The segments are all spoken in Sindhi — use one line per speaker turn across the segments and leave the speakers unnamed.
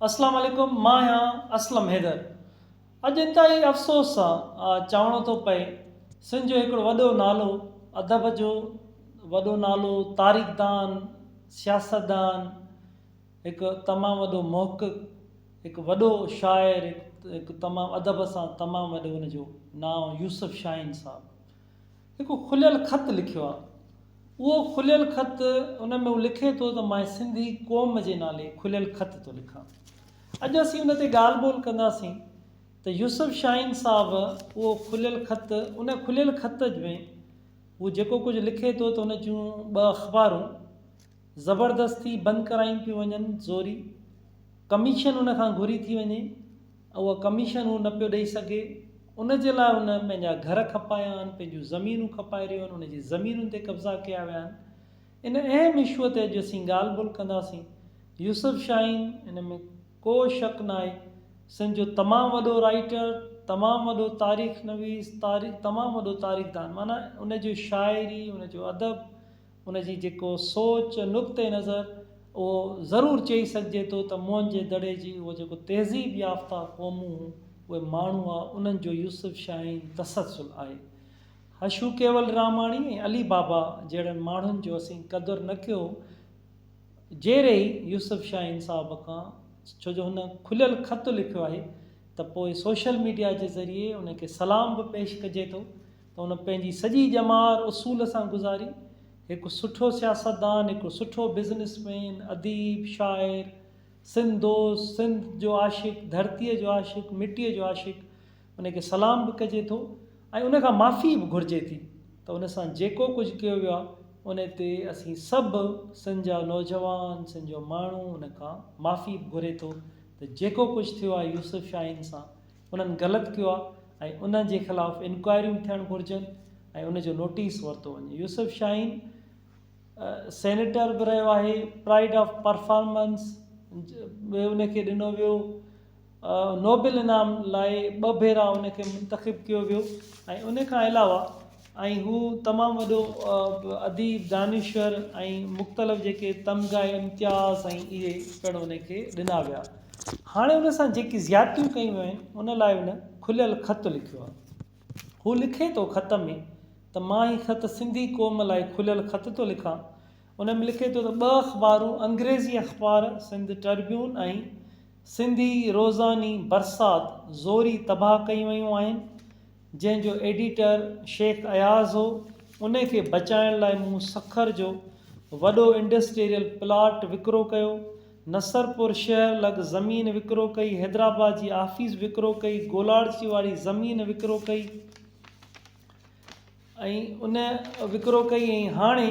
اسلام عليڪم مان آهيان اسلم حيدر اڄ انتهائي افسوس سان چوڻو ٿو پئي سنڌ جو هڪڙو وڏو نالو ادب جو وڏو نالو تاريخ دان سياست دان هڪ تمام وڏو محقق هڪ وڏو شاعر هڪ تمام ادب سان تمام وڏو ان جو نانء يوسف شاهين صاحب هڪ کليل خط لکيو آهي. اهو کليل خط ان ۾ هو لکي ٿو ته مان سنڌي قوم جي نالي کليل خط ٿو لکان. اڄ اسين ان تي ڳالهه ٻولهه ڪنداسين ته يوسف شاهين صاحب اهو کليل خط ان کليل خط ۾ هو جيڪو ڪجهه لکي ٿو ته ان جون ٻه اخبارون زبردستي بند ڪرايون پيون وڃن زوري ڪميشن ان کان گهري ٿي وڃي اها ڪميشن هو نه پيو ڏئي سگهي، ان جي لاء هن پنهنجا گهر کپايا آهن، پنهنجون زمينون کپائي رهيو آهن، هن جي زمينن تي قبضا ڪيا ويا آهن. ان اهم اشوء تي اڄ اسين ڳالهه ٻولهه ڪنداسين. يوسف شاهين ان ۾ ڪو شڪ ناهي سنڌ جو تمام وڏو رائيٽر، تمام وڏو تاريخ نويس، تاريخ تمام وڏو تاريخدان معنيٰ ان جو شاعري، ان جو ادب، ان جي جيڪو سوچ، نقطه نظر، اهو ضرور چئي سگهجي ٿو ته موهن جي دڙي جي اهو جيڪو تهذيب يافته قومون هون، اهي ماڻهو ها، انهن جو يوسف شاهين تسلسل آهي. هشو ڪيولراماڻي ۽ علي بابا جهڙن ماڻهن جو اسين قدر نه ڪيو جيري ئي يوسف شاهين صاحب کان، ڇو جو هن کليل خط لکيو آهي ته پوء سوشل ميڊيا جي ذريعي ان کي سلام به پيش ڪجي ٿو ته ان پنهنجي سڄي ڄمار اصول سان گذاري، هڪ سٺو سياستدان، هڪ سٺو بزنس مين، اديب، شاعر، سنڌ دوست، سنڌ جو عاشق، ڌرتيء جو عاشق، مٽيء جو عاشق، ان کي سلام به ڪجي ٿو ۽ ان کان معافي به گهرجي ٿي ته ان سان جيڪو ڪجهه ڪيو ويو آهي، ان تي اسين سڀ سنڌ جا نوجوان، سنڌ جو ماڻهو ان کان معافي به گهري ٿو ته جيڪو ڪجهه ٿيو آهي يوسف شاهين سان، انهن غلط ڪيو آهي ۽ انهن جي خلاف انڪوائريون ٿيڻ گهرجن ۽ ان جو نوٽيس ورتو وڃي يوسف شاهين سينيٽر به رهيو آهي پرائڊ آف پرفارمنس به ان کي ڏنو ويو نوبل انعام لاء ٻه ڀيرا ان کي منتخب ڪيو ويو ۽ ان کان علاوه ۽ هو تمام وڏو اديب، دانشور ۽ مختلف جيڪي تمغا ۽ امتياز ۽ اهي پڻ ان کي ڏنا ويا. هاڻي ان سان جيڪي زيادتيون ڪيون ويون آهن ان لاء هن کليل خط لکيو آهي. هو لکي ٿو خط ۾ ته مان هي خط سنڌي قوم لاء کليل خط ٿو لکان. ان ۾ لکي ٿو ته ٻه اخبارون انگريزي اخبار سنڌ ٽربيون ۽ سنڌي روزاني برسات زوري تباهه ڪيون ويون آهن. جنهن جو ايڊيٽر شيخ اياز هو، ان کي بچائڻ لاء مون سکر جو وڏو انڊسٽريل پلاٽ وڪرو ڪيو، نصرپور شهر لڳ زمين وڪرو ڪئي، حيدرآباد جي آفيس وڪرو ڪئي، گولاڙچي واري زمين وڪرو ڪئي ۽ ان وڪرو ڪئي ۽ هاڻي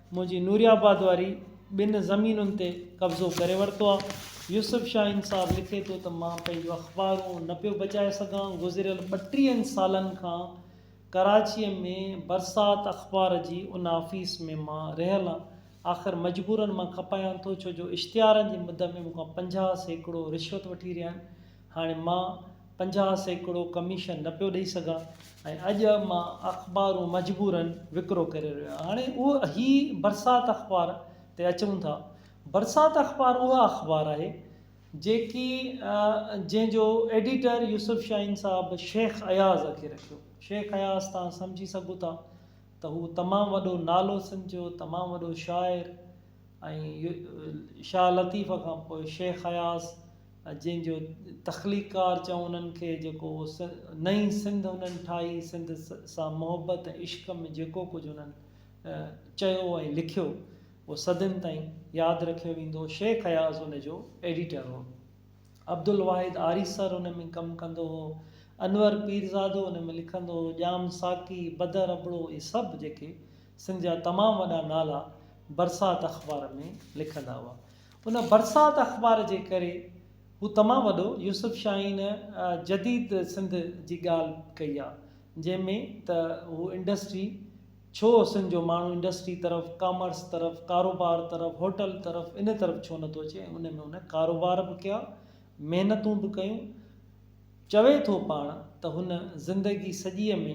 منهنجي نوري آباد واري ٻن زمينن تي قبضو ڪري ورتو آ. يوسف شاهين صاحب لکي ٿو ته مان پنهنجون اخبارون نه پيو بچائي سگهان، گذريل ٻٽيهن سالن کان ڪراچيء ۾ برسات اخبار جي ان آفيس ۾ مان رهيل آ، آخر مجبورن مان کپايان ٿو، ڇو جو اشتهارن جي مد ۾ مون کان پنجاهه سيڪڙو رشوت وٺي رهيا آهن، هاڻي مان پنجاهه سيڪڙو ڪميشن نه پيو ڏئي سگهان ۽ اڄ مان اخبارون مجبوراً وڪرو ڪري رهيو آهيان. هاڻي اهو هي برسات اخبار تي اچون ٿا. برسات اخبار اها اخبار آهي جيڪي جنهن جو ايڊيٽر يوسف شاهين صاحب شيخ اياز کي رکيو. شيخ اياز تان سمجهي سگهو ٿا ته هو تمام وڏو نالو سنڌ جو تمام وڏو شاعر ۽ شاهه لطيف کان پوء شيخ اياز جن جو تخليقڪار چئون انهن کي جيڪو نئين سنڌ انهن ٺاهي سنڌ سان محبت ۽ عشق ۾ جيڪو ڪجهه انهن چيو ۽ لکيو اهو صدين تائين ياد رکيو ويندو شيخ اياز ان جو ايڊيٽر هو. عبدالواحد آريسر ان ۾ ڪم ڪندو هو، انور پيرزادو ان ۾ لکندو هو، ڄام ساقي، بدر ابڙو اهي سڀ جيڪي سنڌ جا تمام وڏا نالا برسات اخبار ۾ لکندا هئا. ان برسات اخبار جي ڪري هو تمام وڏو يوسف شاهين جديد سنڌ جي ڳالهه ڪئي آ جنهن ۾ ته هو انڊسٽري، ڇو سنڌ جو ماڻهو انڊسٽري طرف، ڪامرس طرف، ڪاروبار طرف، هوٽل طرف ان طرف ڇو نه ٿو اچي ۽ ان ۾ هن ڪاروبار به ڪيا، محنتون به ڪيون. چوي ٿو پاڻ ته هن زندگي سڄيء ۾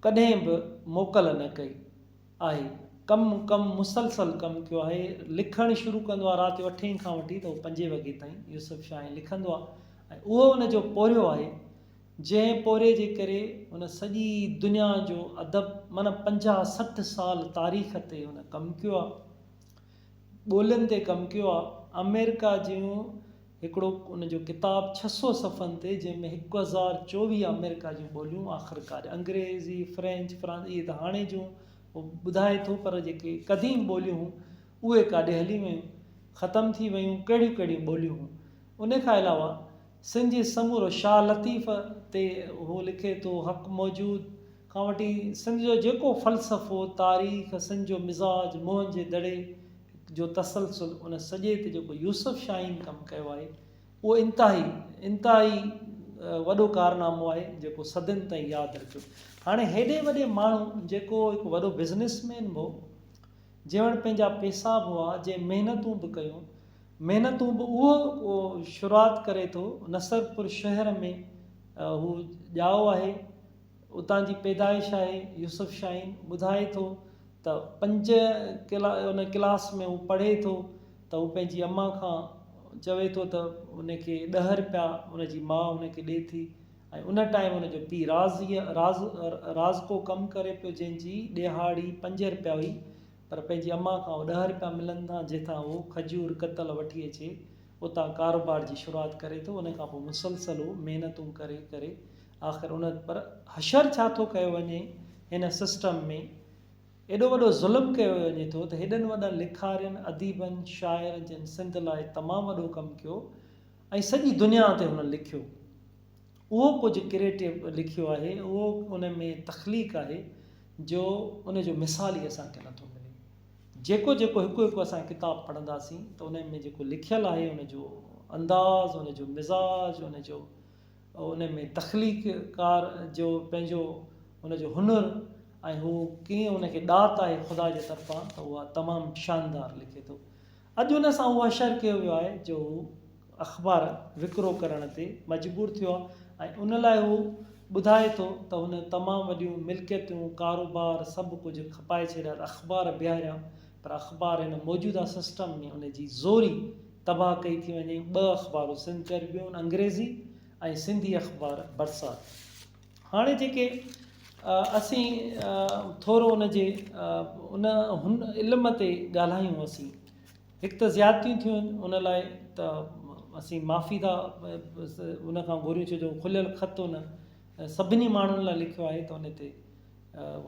ڪڏهن به موڪل نه ڪئي آهي. ڪم ڪم مسلسل ڪم ڪيو آهي. لکڻ شروع ڪندو آهي رات جو اٺين کان وٺي ته پنجين وڳي تائين يوسف شاهين لکندو آهي ۽ اهو ان جو پورهيو آهي. جنهن پورهيي جي ڪري هن سڄي دنيا جو ادب معنيٰ پنجاهه سٺ سال تاريخ تي هن ڪم ڪيو آهي. ٻولين تي ڪم ڪيو آهي. آمريڪا جون هڪڙو ان جو ڪتاب ڇهه سؤ صفحن تي جنهن ۾ هڪ هزار چوويهه آمريڪا جون ٻوليون آخرڪار انگريزي، فرينچ، فرانس اهي ته هاڻي جون هو ٻڌائي ٿو پر جيڪي قديم ٻوليون هيون اهي ڪاڏي هلي ويون ختم ٿي ويون ڪهڙيون ڪهڙيون ٻوليون هيون. ان کان علاوه سن جي سمورو شاهه لطيف تي هو لکي ٿو، حق موجود کان وٺي سن جو جيڪو فلسفو، تاريخ، سن جو مزاج، موهن جي دڙي جو تسلسل، ان سڄي تي جيڪو يوسف شاهين ڪم ڪيو آهي، اهو انتهائي انتهائي وڏو ڪارنامو آهي، جيڪو صدين تائين ياد رکيو. هاڻي هيڏي وڏي ماڻهو جيڪو هڪ وڏو بزنس مين به هو. جيوڻ پنهنجا پيسا به هئا، جنهن محنتون به ڪيون، محنتون به اهو شروعات ڪري ٿو، نصرپور شهر ۾ هو ڄائو آهي، اتان جي پيدائش آهي، يوسف شاهين ٻڌائي ٿو ته پنج ان ڪلاس ۾ هو پڙهي ٿو ته هو پنهنجي امان کان چوي ٿو ته ان کي ڏهه رپيا ان جي ماء ان کي ڏي ٿي، ۽ ان ٽائيم ان جو پيء رازيء، راز، رازڪو ڪم ڪري پيو جنهن جي ڏيهاڙي پنج رپيا هئي پر پنهنجي امان کان اهو ڏهه رپيا ملن ٿا جنهن تان هو کجور ڪتل وٺي اچي اتان ڪاروبار جي شروعات ڪري ٿو ان کان پوء مسلسل هو محنتون ڪري ڪري آخر ان پر حشر ڇا ٿو ڪيو وڃي هن سسٽم ۾ ايڏو وڏو ظلم ڪيو وڃي ٿو ته هيڏن وڏن لکارين، اديبن، شاعرن جن سنڌ لاء تمام وڏو ڪم ڪيو ۽ سڄي دنيا تي هن لکيو اهو ڪجهه ڪريٽو لکيو آهي اهو ان ۾ تخليق آهي جو ان جو مثال ئي اسان کي نٿو ملي جيڪو جيڪو هڪ هڪ اسان ڪتاب پڙهنداسين ته ان ۾ جيڪو لکيل آهي ان جو انداز ان جو مزاج ان جو ان ۾ تخليق ڪار جو پنهنجو ان جو هنر ۽ هو ڪيئن ان کي ڏات آهي خدا جي طرفان ته اها تمام شاندار لکي ٿو اڄ ان سان اهو اشر ڪيو ويو آهي جو هو اخبار وڪرو ڪرڻ تي مجبور ٿيو آهي ۽ ان لاء هو ٻڌائي ٿو ته هن تمام وڏيون ملڪيتون، ڪاروبار سڀ ڪجهه کپائي ڇڏيا ته اخبار بيهاريا پر اخبار هن موجوده سسٽم ۾ ان جي زوري تباهه ڪئي ٿي وڃي، ٻه اخبارون سنڌ ٽربيون، انگريزي، ۽ سنڌي اخبار برسات. هاڻي جيڪي اسين ٿورو ان جي ان هن علم تي ڳالهايون اسين هڪ ته زيادتيون ٿيون آهن ان لاء ته اسين معافي ٿا ان کان گهريون ڇو جو کليل خط ان سڀني ماڻهن لاء لکيو آهي ته ان تي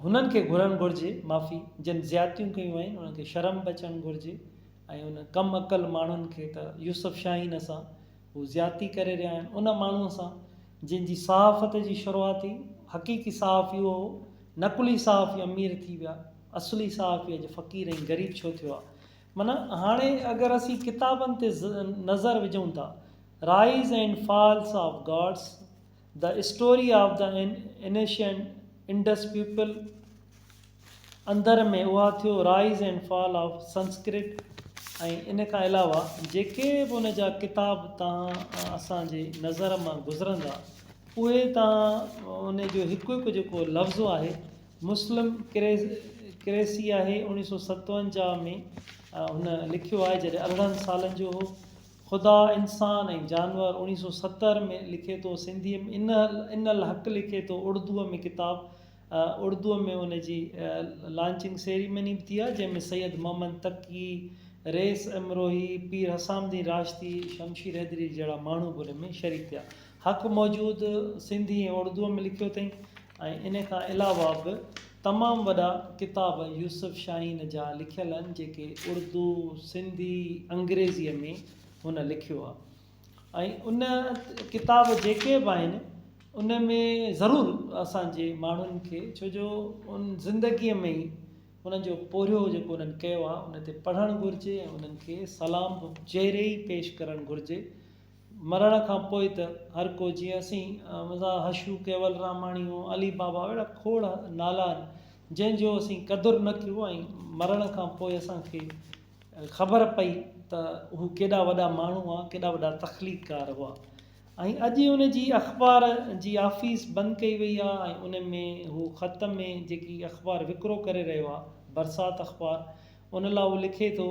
هنن کي گهرڻ گهرجي معافي جن زيادتيون ڪيون آهن انهن کي شرم به اچڻ گهرجي ۽ ان ڪم عقل ماڻهن کي ته يوسف شاهين اسان هو زيادتي ڪري رهيا آهن ان ماڻهوء سان جنهن جي صحافت جي شروعات ئي حقيقي صحافي اهو هو نقلي صحافي امير ٿي ويا اصلي صحافي اڄ فقير ۽ غريب ڇو ٿيو آهي معنيٰ هاڻي اگر اسين ڪتابن تي نظر وجهون ٿا rise and falls of gods The Story of the Ancient Indus People اندر ۾ اها ٿيو Rise and Fall of Sanskrit ۽ ان کان علاوه جيڪي به ان جا ڪتاب توهان اسان جي نظر مان گذرندا اهي توهان ان جو هڪ هڪ جيڪو لفظ آهي مسلم ڪريسي آهي اڻيهه سؤ ستونجاهه ۾ هن لکيو آهي جڏهن ارڙهن سالن جو هو خدا، انسان ۽ جانور، اڻيهه سؤ ستر ۾ لکي ٿو سنڌيء ۾ ان الحق لکي ٿو اڙدوء ۾ ڪتاب اڙدوء ۾ ان جي لانچنگ سيريمني به ٿي آهي جنهن ۾ سيد محمد تقي، ريس امروهي، پير حسام الدين راشدي، شمشير حيدري جهڙا ماڻهو به ان ۾ شريڪ ٿيا. حق موجود سنڌي ۽ اڙدوء ۾ لکيو اٿئي. ۽ ان کان علاوه به تمام وڏا ڪتاب يوسف شاهين جا لکيل آهن جيڪي اردو، سنڌي، انگريزيء ۾ هن لکيو آهي ۽ ان ڪتاب جيڪي به آهن ان ۾ ضرور اسان جي ماڻهن کي ڇو جو ان زندگيء ۾ ئي انهن جو پورهيو جيڪو انهن ڪيو آهي ان تي پڙهڻ گهرجي ۽ انهن کي سلام به چيري ئي پيش ڪرڻ گهرجي مرڻ کان پوء ته هر ڪو جيئن اسين مزاح هشو ڪيول راماڻي هو علي بابا اهڙا کوڙ نالا آهن جنهن جو اسين قدر نه ڪيو ۽ مرڻ کان پوء اسان کي خبر پئي ته هو ڪيڏا وڏا ماڻهو هئا ڪيڏا وڏا تخليقڪار هئا ۽ اڄ ان جي اخبار جي آفيس بند ڪئي وئي آهي ۽ ان ۾ هو خط ۾ جيڪي اخبار وڪرو ڪري رهيو آهي برسات اخبار ان لاء هو لکي ٿو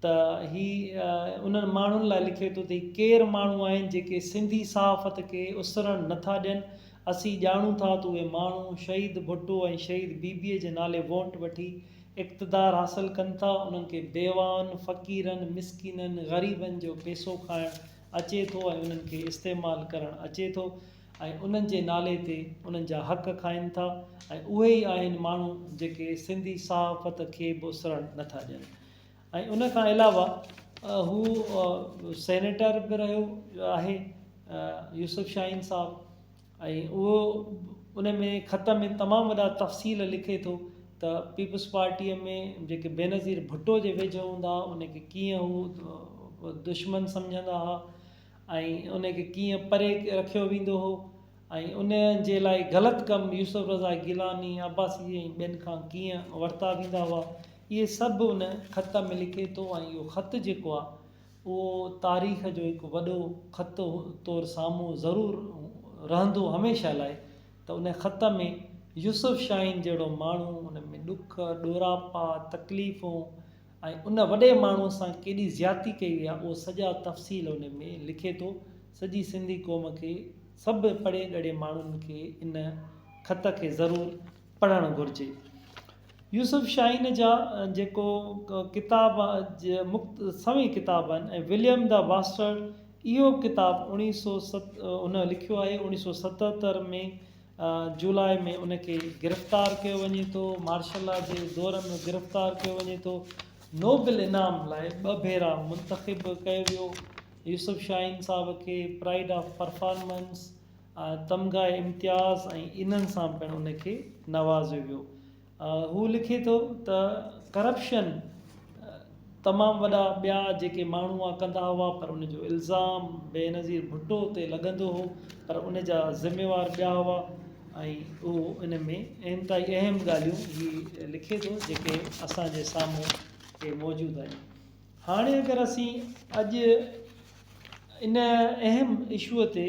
ته هي انهن ماڻهن لاء لکي ٿو ته هي ڪير ماڻهو آهن جيڪي سنڌي صحافت کي اسرڻ نه ٿا ڏين اسين ڄاڻون ٿا ته اهي ماڻهو شهيد ڀٽو ۽ شهيد بيبيء جي نالي وونٽ وٺي اقتدار حاصل ڪن ٿا انهن کي بيواهن فقيرن مسڪينن غريبن جو پيسو کائڻ اچي ٿو ۽ انهن کي استعمال ڪرڻ اچي ٿو ۽ انهن جي نالي تي انهن جا حق کائن ٿا ۽ اهي ئي آهن ماڻهو جيڪي سنڌي صحافت کي به اسرڻ نه ٿا ڏين ۽ ان کان علاوه هو سينيٽر به رهيو آهي يوسف شاهين صاحب ۽ اهو ان ۾ خط ۾ تمام وڏا تفصيل لکي ٿو ته پيپلز پارٽيء ۾ جيڪي بينظير ڀٽو جي ويجهو هوندا ان کي ڪيئن هو دشمن سمجهندا هئا ۽ ان کي ڪيئن پري رکيو ويندو هو ۽ ان جي لاء غلط ڪم يوسف رضا گيلاني، عباسي ۽ ٻين کان ڪيئن ورتا ويندا هئا اهي سڀ ان خط ۾ لکي ٿو ۽ اهو خط جيڪو آهي اهو تاريخ جو هڪ وڏو خط طور سامهون ضرور رهندو هميشه لاء ته ان خط ۾ يوسف شاهين جهڙو ماڻهو ان ۾ ڏک، ڏوراپا، تڪليفون، ۽ ان وڏي ماڻهو سان ڪيڏي زيادتي ڪئي وئي آهي اهو سڄا تفصيل ان ۾ لکي ٿو سڄي سنڌي قوم کي سڀ پڙهي ڳڙهي ماڻهن کي ان خط کي ضرور پڙهڻ گهرجي يوسف شاهين جا جيڪو ڪتاب مخت سوين ڪتاب آهن ۽ وليم دا باسٽرڊ اهو ڪتاب اوڻيهه سو ست ان لکيو آهي اوڻيهه سو ستهتر ۾ جولاء ۾ ان کي گرفتار ڪيو وڃي ٿو مارشل لا جي دور ۾ گرفتار ڪيو وڃي ٿو نوبل انعام لاء ٻه ڀيرا منتخب ڪيو ويو يوسف شاهين صاحب کي پرائڊ آف پرفارمنس تمغه امتياز ۽ انهن سان پڻ ان کي نوازيو ويو هو لکي ٿو ته ڪرپشن تمام وڏا ٻيا جيڪي ماڻهو اها ڪندا هئا پر ان جو الزام بينظير ڀٽو تي لڳندو هو پر ان جا ذميوار ٻيا هئا ۽ اهو ان ۾ انتهائي اهم ڳالهيون هي لکي ٿو جيڪي اسان جي سامهون هي موجود آهن هاڻي اگر اسين اڄ ان اهم اشوء تي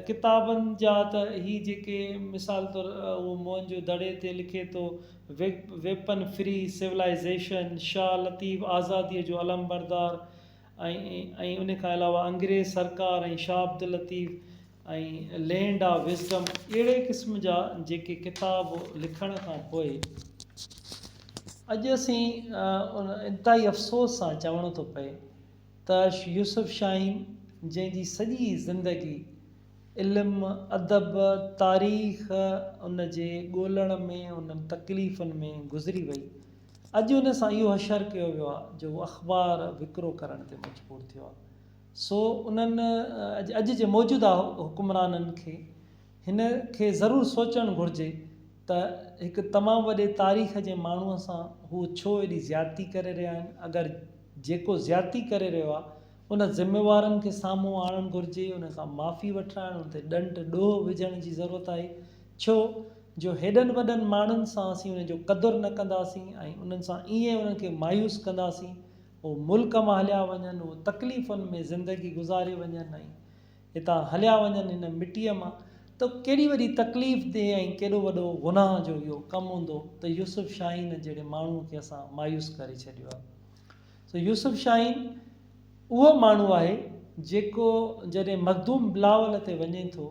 ڪتابن جا ته هي جيڪي مثال طور اهو موهن جو دڙي تي لکي ٿو weapon free civilisation, Shah Latif آزاديء جو علمبردار ۽ ان کان علاوه انگريز سرڪار ۽ Shah Abdul Latif ۽ land of wisdom اهڙي قسم جا جيڪي ڪتاب لکڻ کان پوء اڄ اسين انتهائي افسوس سان چوڻو ٿو پئي ته يوسف شاهين جنهن جي سڄي زندگي علم، ادب، تاريخ ان جي ڳولڻ ۾ انهن تڪليفن ۾ گذري وئي اڄ ان سان اهو حشر ڪيو ويو آهي جو اخبار وڪرو ڪرڻ تي مجبور ٿيو آهي سو انهن اڄ جي موجوده حڪمرانن کي هن کي ضرور سوچڻ گهرجي ته هڪ تمام وڏي تاريخ جي ماڻهو سان هو ڇو ايڏي زيادتي ڪري رهيا آهن اگر جيڪو زيادتي ڪري رهيو آهي ان ذميوارن کي سامهون آڻڻ گهرجي ان کان معافي وٺرائڻ ان تي ڏنڊ ڏوهه وجهڻ جي ضرورت آهي ڇو جو هيڏن وڏن ماڻهن سان اسين ان جو قدر نه ڪنداسين ۽ انهن سان ائين انهن کي مايوس ڪنداسين هو ملڪ مان هليا وڃن، هو تڪليفن ۾ زندگي گذاري وڃن ۽ هتان هليا وڃن هن مٽيء مان ته ڪهڙي وڏي تڪليف ديهه ۽ ڪيڏو وڏو گناهه جو اهو ڪم هوندو ته يوسف شاهين جهڙي ماڻهوء کي اسان مايوس ڪري ڇڏيو آهي. سو يوسف شاهين اهو ماڻهو آهي جيڪو جڏهن مخدوم بلاول تي وڃي ٿو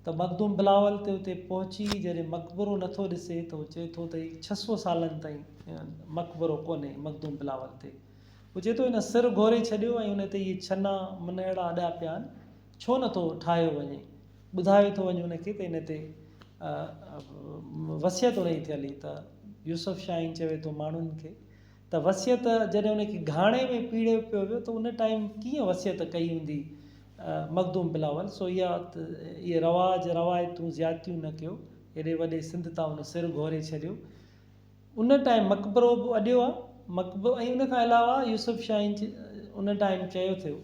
ته مخدوم بلاول تي اتي پهچي جڏهن مقبرو نه ٿو ڏسي ته هو چئي ٿو ته هي ڇهه سؤ سالن تائين مقبرو ڪونهي مخدوم بلاول تي هو چئي ٿو هن سر گهوري ڇڏيو ۽ ان تي اهي ڇنا منهڙا اڏيا پيا آهن ڇو نه ٿو ٺاهيو وڃي ٻڌايو ٿو وڃي ان کي ته ان تي وصيت انهي ٿيل هئي ته يوسف شاهين چوي ٿو ماڻهن کي ته وصيت جڏهن ان کي گهاڻي ۾ پيڙيو پيو ويو ته ان ٽائيم ڪيئن وصيت ڪئي هوندي مخدوم بلاول سو اها اهي رواج روايتون زيادتيون نه ڪيو ايڏي وڏي سنڌ تان ان سر گهوري ڇڏيو ان ٽائيم مقبرو به اڏيو آهي مقبرو ۽ ان کان علاوه يوسف شاهين جي ان ٽائيم چيو ٿيو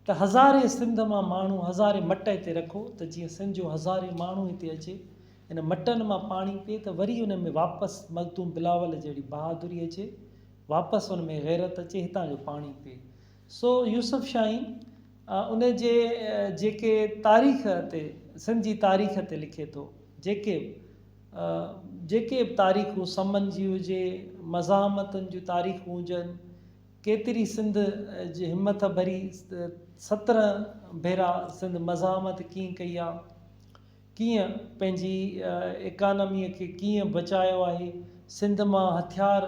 ته هزارين سنڌ مان ماڻهو هزارين مٽ هتي رکو ته جيئن سنڌ جو هزارين ماڻهو هتي اچي ان مٽن مان پاڻي پي ته وري انهن ۾ واپس ملتون بلاول جهڙي بهادري اچي، واپس ان ۾ غيرت اچي هتان جو پاڻي پي. سو يوسف شاهين ان جي جيڪي تاريخ تي سنڌ جي تاريخ تي لکي ٿو، جيڪي به جيڪي به تاريخون سمن جي هجي، مزاحمتن جون تاريخون هجن، ڪيتري سنڌ جي همٿ ڀري سترهن ڀيرا سنڌ مزاحمت ڪيئن ڪئي آ. ڪيئن پنهنجي اڪانميء کي ڪيئن بچايو آهي. سنڌ مان هٿيار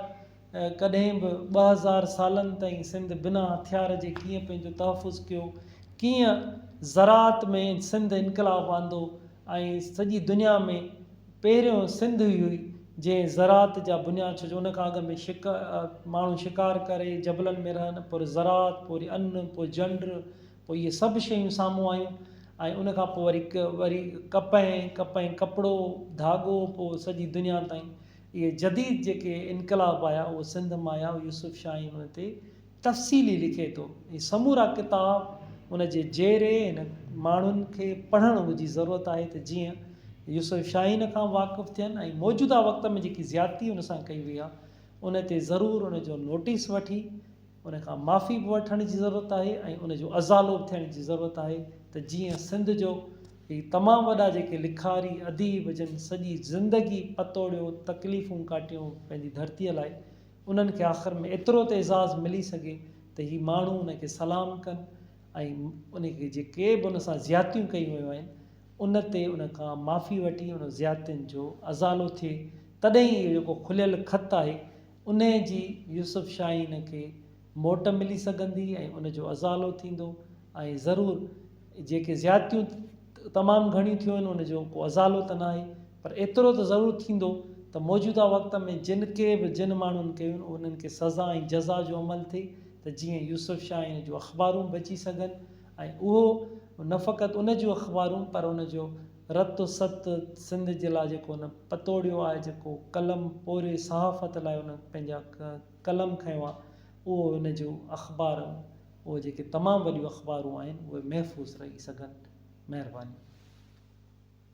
ڪڏهن به ٻه هزار سالن تائين سنڌ بنا هٿيار جي ڪيئن پنهنجو تحفظ ڪيو. ڪيئن زراعت ۾ سنڌ انقلاب آندو ۽ سڄي دنيا ۾ پهريون سنڌ ئي هئي جنهن زراعت جا بنياد ڇو جو ان کان اڳ ۾ ماڻهو شڪار ڪري جبلن ۾ رهن پر زراعت پوري ان پوء جنڊ پوء اهي سڀ شيون سامهون آيون ۽ ان کان پوء وري وري ڪپهه ۽ ڪپهه ۽ ڪپڙو، ڌاڳو، پوء سڄي دنيا تائين اهي جديد جيڪي انقلاب آيا اهي سنڌ مان آيا يوسف شاهين ان تي تفصيلي لکي ٿو. هي سمورا ڪتاب ان جي جيري هن ماڻهن کي پڙهڻ جي ضرورت آهي ته جيئن يوسف شاهين کان واقف ٿين ۽ موجوده وقت ۾ جيڪي زيادتي هن سان ڪئي وئي آهي ان تي ضرور ان جو نوٽيس وٺي ان کان معافي به وٺڻ جي ضرورت آهي ۽ ان جو ازالو به ٿيڻ جي ضرورت آهي ته جيئن سنڌ جو هي تمام وڏا جيڪي لکاري اديب جن سڄي زندگي پتوڙيو تڪليفون ڪاٽيون پنهنجي ڌرتي لاء انهن کي آخر ۾ ايترو ته اعزاز ملي سگهي ته هي ماڻهو ان کي سلام ڪن ۽ ان کي جيڪي به ان سان زيادتيون ڪيون ويون آهن ان تي ان کان معافي وٺي ان زيادتين جو ازالو ٿئي تڏهن ئي اهو جيڪو کليل خط آهي انهيء جي يوسف شاهين کي موٽ ملي سگهندي ۽ ان جو ازالو ٿيندو ۽ ضرور جيڪي زيادتيون تمام گهڻيون ٿيون آهن ان جو ڪو ازالو ته ناهي پر ايترو ته ضرور ٿيندو ته موجوده وقت ۾ جن ڪي به جن ماڻهن ڪيون انهن کي سزا ۽ جزا جو عمل ٿئي ته جيئن يوسف شاهين جون اخبارون بچي سگهن ۽ اهو نه فقط ان جون اخبارون پر ان جو رت و ست سنڌ جي لاء جيڪو هن پتوڙيو آهي جيڪو قلم پوري صحافت لاء هن پنهنجا قلم کنيو آهي اهو هن جو اخبار اهي جيڪي تمام وڏيون اخبارون آهن اهي محفوظ رهي سگهن مهرباني.